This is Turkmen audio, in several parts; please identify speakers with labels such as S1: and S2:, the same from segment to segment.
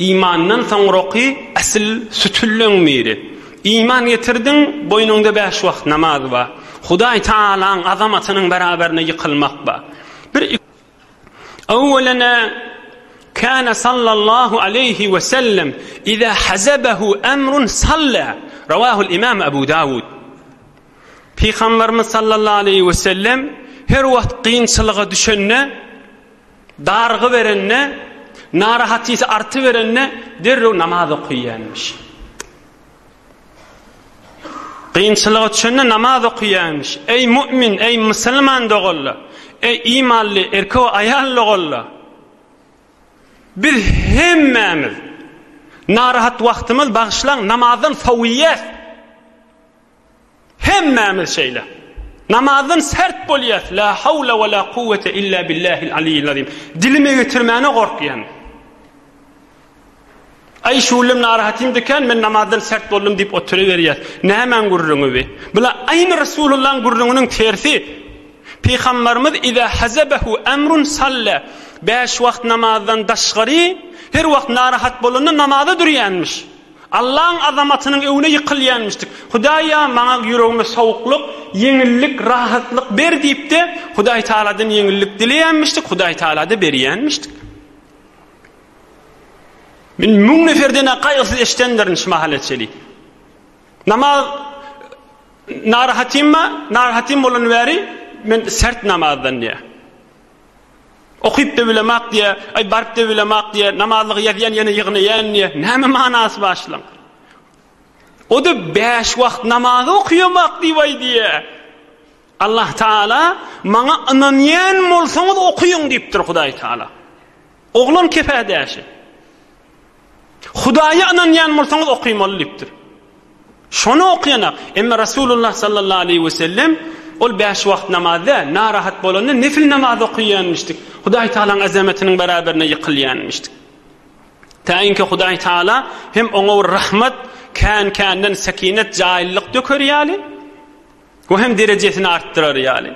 S1: Imandan soňraky asyl sütünleň biri. Iman getirdiň, boýnuňda bäş wagt namaz bar. Hudaý Tagalaň azamatynyň beraberine ýykylmak bar. Bir Awwelena kana sallallahu aleýhi we sellem iza hazabahu amrun salla. Rawahul imam Abu Dawud. Pygamberimiz sallallahu aleýhi we sellem her wagt kynçylyga düşende Dargy berende, narahatysi artyberende derrew namaz okaýýarmyş. Kynçylyga çönde namaz okaýarmyş. Eý mu'min, eý musulman doganlar, eý imanly erkek we aýal doganlar! Biz hemmämiz narahat wagtymyz bagyşlaň namazdan sowýas. Hemmämiz şeýle. Namazdan sert bolýas. La hawla we la kuwwete illa billahil aliyil azim. Dilime getirmäne gorkýan. Aý şullem narahatym diken men namazdan sert boldum diýip oturyberýär. Nämäň gürrüňi bi? Bula aýny Resulullahyň gürrüňiniň tersi. Pygambarymyz iza hazabahu amrun salla. Bäş wagt namazdan daşgary her wagt narahat bolanda namaza durýanmyş. Allaň azamatynyň öňüne ýykylýanmyşdyk. Hudaý-a, maňa ýüregime sowuklyk, ýeňillik, rahatlyk ber diýip-de, Hudaý Tagaladan ýeňillik dileýänmişdik, Hudaý Tagala-da berýänmişdik. Men müň neferden-ä gaýgysyz eşidendirin şu mahala çeli. Namaz narahatymmy? Narahatym bolany bäri men sert namazdan diýýär. Okyp-da bilemak diýä, aý, baryp-da bilemak diýä, namazlygy ýazýan ýene ýygnaýan diýä. Näme manasy bar şulaň? O-da bäş wagt namazy okyýamak diýip aý diýä. Allah Taala maňa ynanýan bolsaňyz okyň diýipdir Hudaý Taala. Oglan kepädäşi. Hudaýa ynanýan bolsaňyz okaýmaly diýipdir. Şony okaýanak, emma Resulullah sallallahu aleýhi we sellem ol bäş wagt namaz däl, narahat bolanda nefil namaz okaýanmyşdyk. Hudaý Tagalaň azamatiniň beraberine ýykylýanmyşdyk. Taýinki Hudaý Tagala hem oňa bir rahmat, kän-känden sekinet, jaýlylyk döker ýaly we hem derejesini artdyrar ýaly.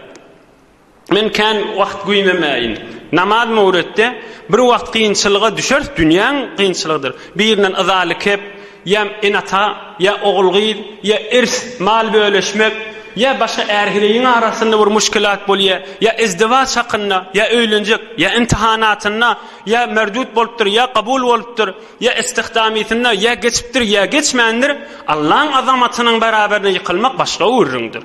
S1: Men kän wagt güýmemäýin. Namaz möwritde bir wagt kynçylyga düşeris, dünýäň kynçylygydyr. Birinden yzaly kep, ýa ene-ata, ýa ogul-gyz, ýa irs, mal bölüşmek, ýa başga är-heleýiň arasynda bir muşkilat bolýar, ýa izdiwaç hakynda, ýa öýlenjek, ýa imtihanatynda, ýa merdut bolupdyr, ýa kabul bolupdyr, ýa istihdamysynda, ýa geçipdir, ýa geçmändir, Allaň azamatynyň baraberine ýykylmak başga gürrüňdir.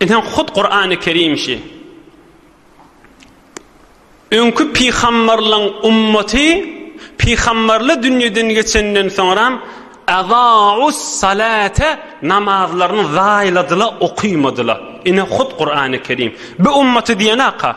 S1: Ine hut Kur'an-ı Kerim şi. Öňki pygamberleň ummaty pygamberli dünýeden geçenden soňram azaus salate namazlaryny zaýladyla okymadyla. Ine hut Kur'an-ı Kerim. Bu ummaty diýen aka.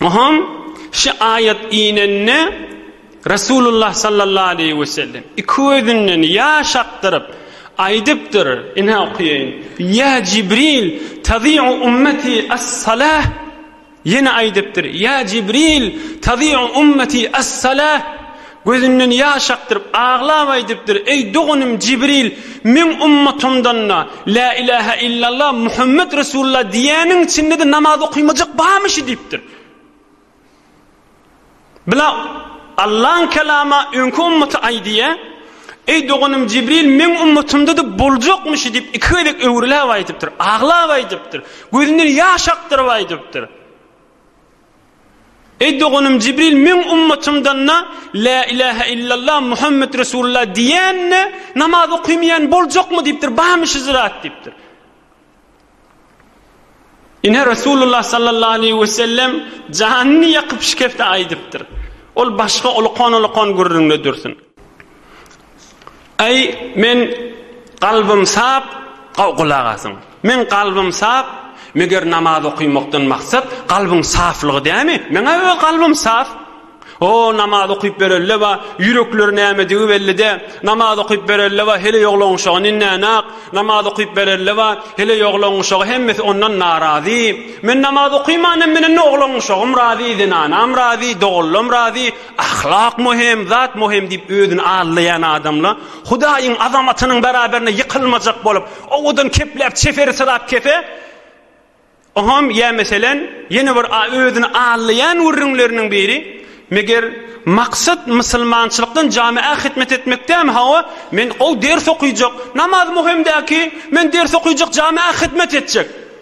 S1: Oňham şu aýat inende Resulullah sallallahu aleýhi we sellem iki gözünden ýaş akdyryp aýdypdyr, ine okaýaýyn, Ýa Jibril, tazi'u ummeti as-salah. Ýene aýdypdyr, Ýa Jibril, tazi'u ummeti as-salah. Gözünden ýaş akdyryp, aglap aýdypdyr, Eý, doganym Jibril, meň ummatymdan-da, Lä ilähä illallah, Muhammet Resulullah diýýäniň içinde-de namaz okymajak barmyşy? diýipdir. Bula Allaň Kelamy öňki ummata aýdýa, Eý, doganym Jibril, meň ummatymda-da boljakmyşy diýip, iki gezek öwrüläp aýdypdyr, aglap aýdypdyr, gözünden ýaş akdyryp aýdypdyr. Eý doganym Jibril meň ummatymdan-da La ilahe illallah Muhammet Resulullah diýen-de namaz okymaýan boljakmy diýipdir, barmy şu zürat diýipdir. Ine Resulullah sallallahu aleyhi ve sellem janyny ýakyp şikefte aýdypdyr. Ol başga ulukan-ulukan gürrüňde dursun. Aý, men Kalbym sap, gulak asyň. Men Kalbym sap, meger namaz okymakdan maksat kalbyň saflygy dämi? Meňä öz kalbym sap. O, namaz okyp berelleba, ýürekleri nämedigi bellidä. Namaz okyp berelleba, heleý oglanuşagy ninänak. Namaz okyp berelleba, heleý oglanuşagy hemmesi ondan narazy. Men namaz okymanam menende oglanuşagym razy, zenanam razy, doganlam razy. Ahlak möhüm, zat möhüm diýip özüni aldaýan adamla Hudaýyň azamatynyň beraberine ýykylmajak bolup, owadan kepläp çeferi sylap kefe, oňam ýa meselen ýene bir özüni aldaýan gürrüňleriniň biri, Meger maksat mysylmançylykdan jamaä hytmet etmek dämi, hawa, men ol ders okyjak, namaz möhüm däki, men ders okyjak jamaä hytmet etjek.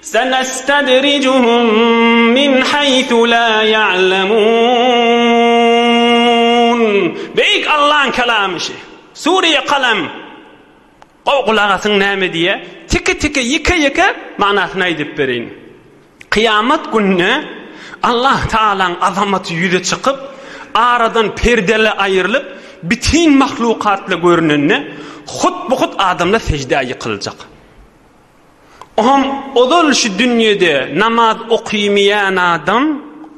S1: Sanestadrijuhum min haýsu la ya'lemun. Beýik Allaň kalamy şi. Sure Kalem. Gowy gulak asyň näme diýýär? Tike-tike, ýeke-ýeke manysyny aýdyp bereýin. Kyýamat gününe Allah Tagalaň azamaty ýüze çykyp, aradan perdele aýrylyp, bitin mahlukatla görünende, hut-bu-hut adamlar seždä ýykyljak. Oňam ozal şu dünýede namaz okymaýan adam,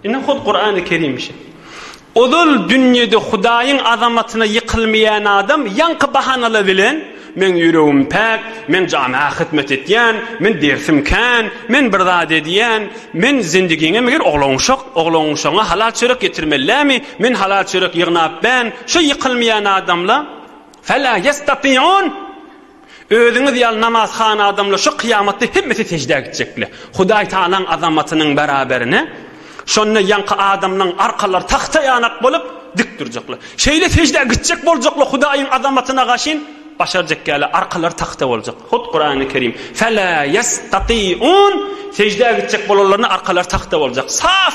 S1: ine hut Kurany Kerim şe. Ozal dünýede Hudaýyň azamatyna ýykylmaýan adam ýaňky bahanala bilen men ýüregim päk, men jana hyzmat etýän, men dersim kän, men bir zat edýän, men zindigiňe meger oglanşak, oglanşaňa halal çörek getirmellämi, men halal çörek ýygnap bän, şu ýykylmaýan adamla fela ýestatiun Özüňiz ýaly namazhana adamlar şu kyýamatda hemmesi seždä gitjekler. Hudaý Tagalaň azamatynyň beraberine şonda ýaňky adamlaň arkalary tagta ýanak bolup dik durjaklar. Şeýle seždä gitjek boljaklar Hudaýyň azamatyna gaşyn başarjak ýaly arkalary tagta boljak. Hut Kurany Kerim, Fela ýestatiun, seždä gitjek bolanlaryna arkalary tagta boljak. Saf!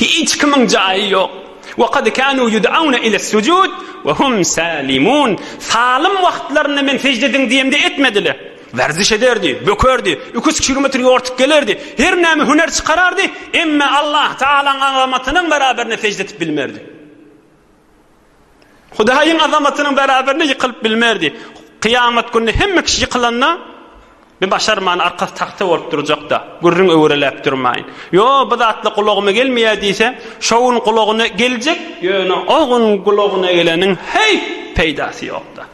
S1: Hiç kimiň jaýy ýok. Wa kad kanu yud'auna ila sujud wa hum salimun. Salym wagtlarynda men sejde ediň diýemde etmediler. Werziş ederdi, bökerdi, iki üç kilometr ýortup gelerdi, her näme hüner çykarardy, emma Allah Taalaň azamatynyň beraberinde sejde edip bilmerdi. Hudaýyň azamatynyň bäräberine ýykylyp bilmerdi. Kyýamat gününe hemme kişi ýykylanda, Bi başarman, arkasy tagta bolup durjak-da, gürrüň öwreläp durmaýyn. Ýo, bu zatlar gulagyma gelmeýär diýse, şo gün gulagyna geljek, ýöne o gün gulagyna geleniň heýt peýdasy ýok-da.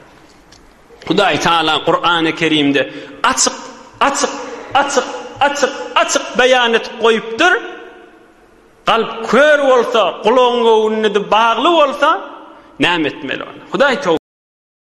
S1: Hudaý Tagala Kurany Kerimde açyk, açyk, açyk, açyk, açyk beýan edip goýupdyr. Kalp kör bolsa, gulagyň göwünlidi bagly bolsa näme etmeli onda? Hudaý